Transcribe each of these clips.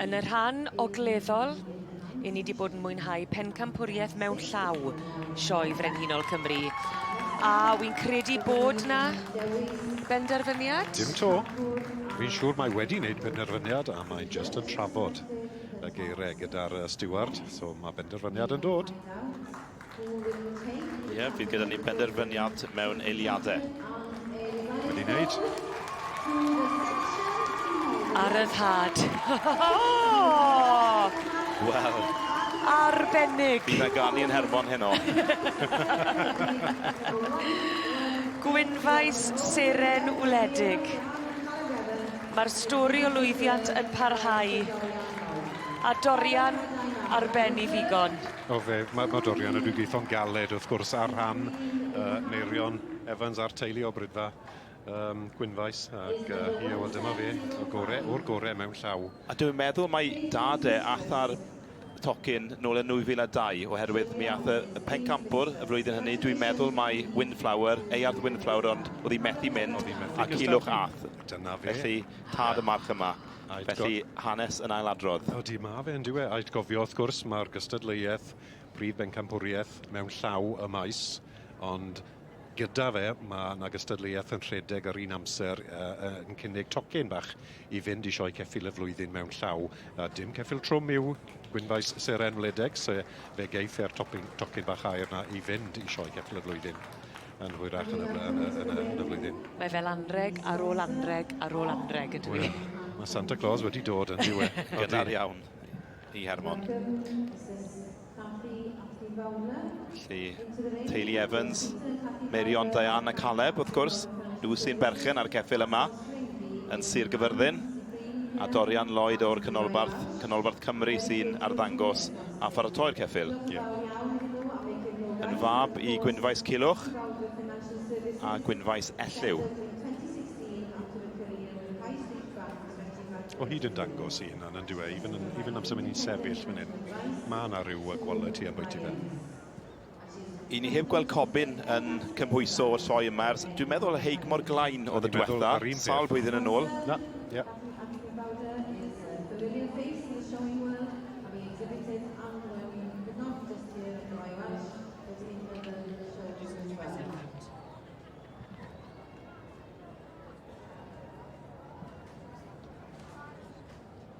Yn y rhan ogleddol, i ni wedi bod yn mwynhau pencampwriaeth mewn llaw Sioe Frenhinol Cymru. A wy'n credu bod na benderfyniad? Dim to. Fi'n siŵr mae wedi wneud penderfyniad a mae'n just yn trafod y geiriau gyda'r steward, so mae benderfyniad yn dod. Ie, bydd gyda ni benderfyniad mewn eiliadau. Wedi wneud. Ar y rhad. Wel. Arbennig. Bydd na ganu yn Hermon heno. Gwynfaes seren wledig. Mae'r stori o lwyddiant yn parhau. A Dorian ar ben i ddigon. O fe, mae, mae Dorian yn rhywbeth galed wrth gwrs ar rhan uh, Meirion Evans a'r teulu o Brydfa um, Gwynfaes ac uh, ie, wel dyma fe, o gore, o'r gore mewn llaw. A dwi'n meddwl mae dad e atha'r tocyn nôl yn 2002 oherwydd mi ath y pencampwr y flwyddyn hynny, dwi'n meddwl mae Windflower, Earth Windflower ond oedd hi methu mynd a Cilwch Ath. Dyna fe. Felly tad y march yma. Ait go- Felly, hanes yn ail-adrodd. Ydy, ma' fe yndyw e? Ait gofio, wrth gwrs, ma'r gystadleuaeth prif bencampwriaeth mewn llaw y maes, ond gyda fe ma' 'na gystadleuaeth yn rhedeg yr un amser yy yy yn cynnig tocyn bach i fynd i Sioe Ceffyl y Flwyddyn mewn llaw. Yy dim ceffyl trwm yw gwynfaes seren wledig, so fe geiff e'r topyn- tocyn bach aur 'na i fynd i Sioe Ceffyl y Flwyddyn. yn hwyrach yn y, yn y, yn y, yn y flwyddyn. Mae fel anreg ar ôl anreg ar ôl anreg yn dwi. Mae Santa Claus wedi dod yn diwe. Gynnar iawn i Hermon. Felly, teulu Evans, Merion, Diane a Caleb, wrth gwrs, nhw sy'n berchen ar ceffil yma yn Sir Gyfyrddin, a Dorian Lloyd o'r Canolbarth, Canolbarth Cymru sy'n arddangos a pharatoi'r ceffyl. Yeah. Yn fab i Gwynfaes Culwch a Gwynfaes Elliw. o hyd yn dangos i hynna yn dyw e, even, even amser mynd i'n sefyll fan hyn, mae yna rhyw quality about i fe. I ni heb gweld Cobyn yn cymhwyso o'r sioe yma ers, dwi'n meddwl, heig mor glain oedd y diwetha, sawl blwyddyn yn ôl. Na, ie.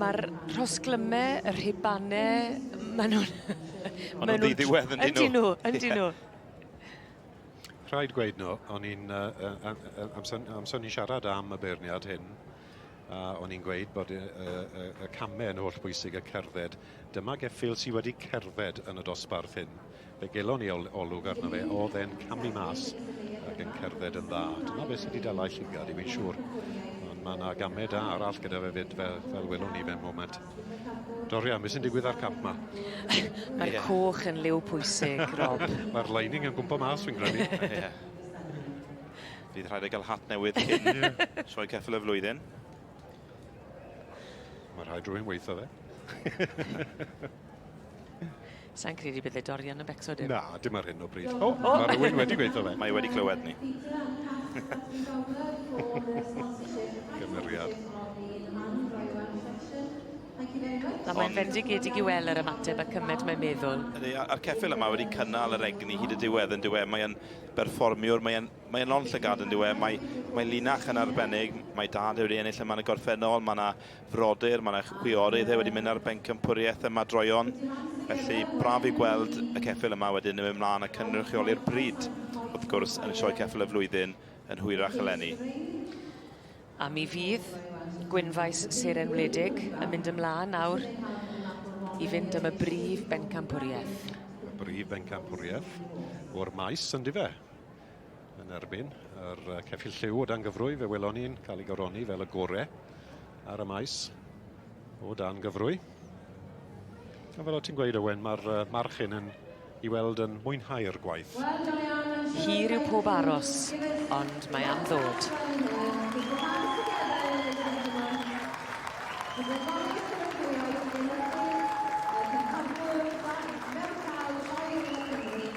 Mae'r rhosglyme, y rhibane, maen nhw'n... Maen nhw'n ddiwedd yn dyn nhw. Yn dyn nhw. Rhaid gweud nhw, o'n i'n... Amser ni'n siarad am y beirniad hyn, a o'n i'n gweud bod y, y, y, y camau yn holl bwysig y cerdded. Dyma geffyl sydd wedi cerdded yn y dosbarth hyn. Fe gelon ni ol olwg arno fe, oedd e'n camu mas ac yn cerdded yn dda. Dyna beth sydd wedi dala llygad i fi'n siŵr. Ond mae yna gamau da arall gyda fe fyd fel, fel welwn ni fe moment. Doria, beth sy'n digwydd â'r cap ma? Mae'r yeah. coch yn liw pwysig, Rob. Mae'r lining yn gwmpa mas fi'n gwneud. yeah. Fydd rhaid ei gael hat newydd cyn sioe ceffil y flwyddyn. Mae rhaid rhywun weithio fe. Sa'n credu bydde Dorian yn becso dim. Na, dim ar hyn o bryd. O, oh, mae rhywun wedi gweithio fe. Mae wedi clywed ni. Gymeriad. Na, mae'n fendigedig i weld yr ymateb a cymed mae'n meddwl. A'r ceffil yma wedi cynnal yr egni hyd y diwedd yn diwedd. Mae'n berfformiwr, mae'n mae lon llygad yn diwedd. Mae, mae linach yn arbennig, mae dad wedi ennill yma yn y gorffennol. Mae yna frodyr, mae'r chwiorydd wedi mynd ar bencampwriaeth ym Madroion, felly braf i gweld y ceffyl yma wedyn yn mynd mlaen a cynrychioli'r bryd, wrth gwrs, yn sioe ceffyl y flwyddyn yn hwyrach eleni. A mi fydd Gwynfaes Seren Wledig yn mynd ymlaen nawr i fynd am y brif bencampwriaeth. Y brif bencampwriaeth o'r maes, yndi fe? yn erbyn yr ceffil lliw o dan gyfrwy fe welon ni'n cael ei goroni fel y gore ar y maes o dan gyfrwy a fel o ti'n gweud Owen mae'r uh, march hyn yn i weld yn mwynhau'r gwaith Hir yw pob aros ond mae am ddod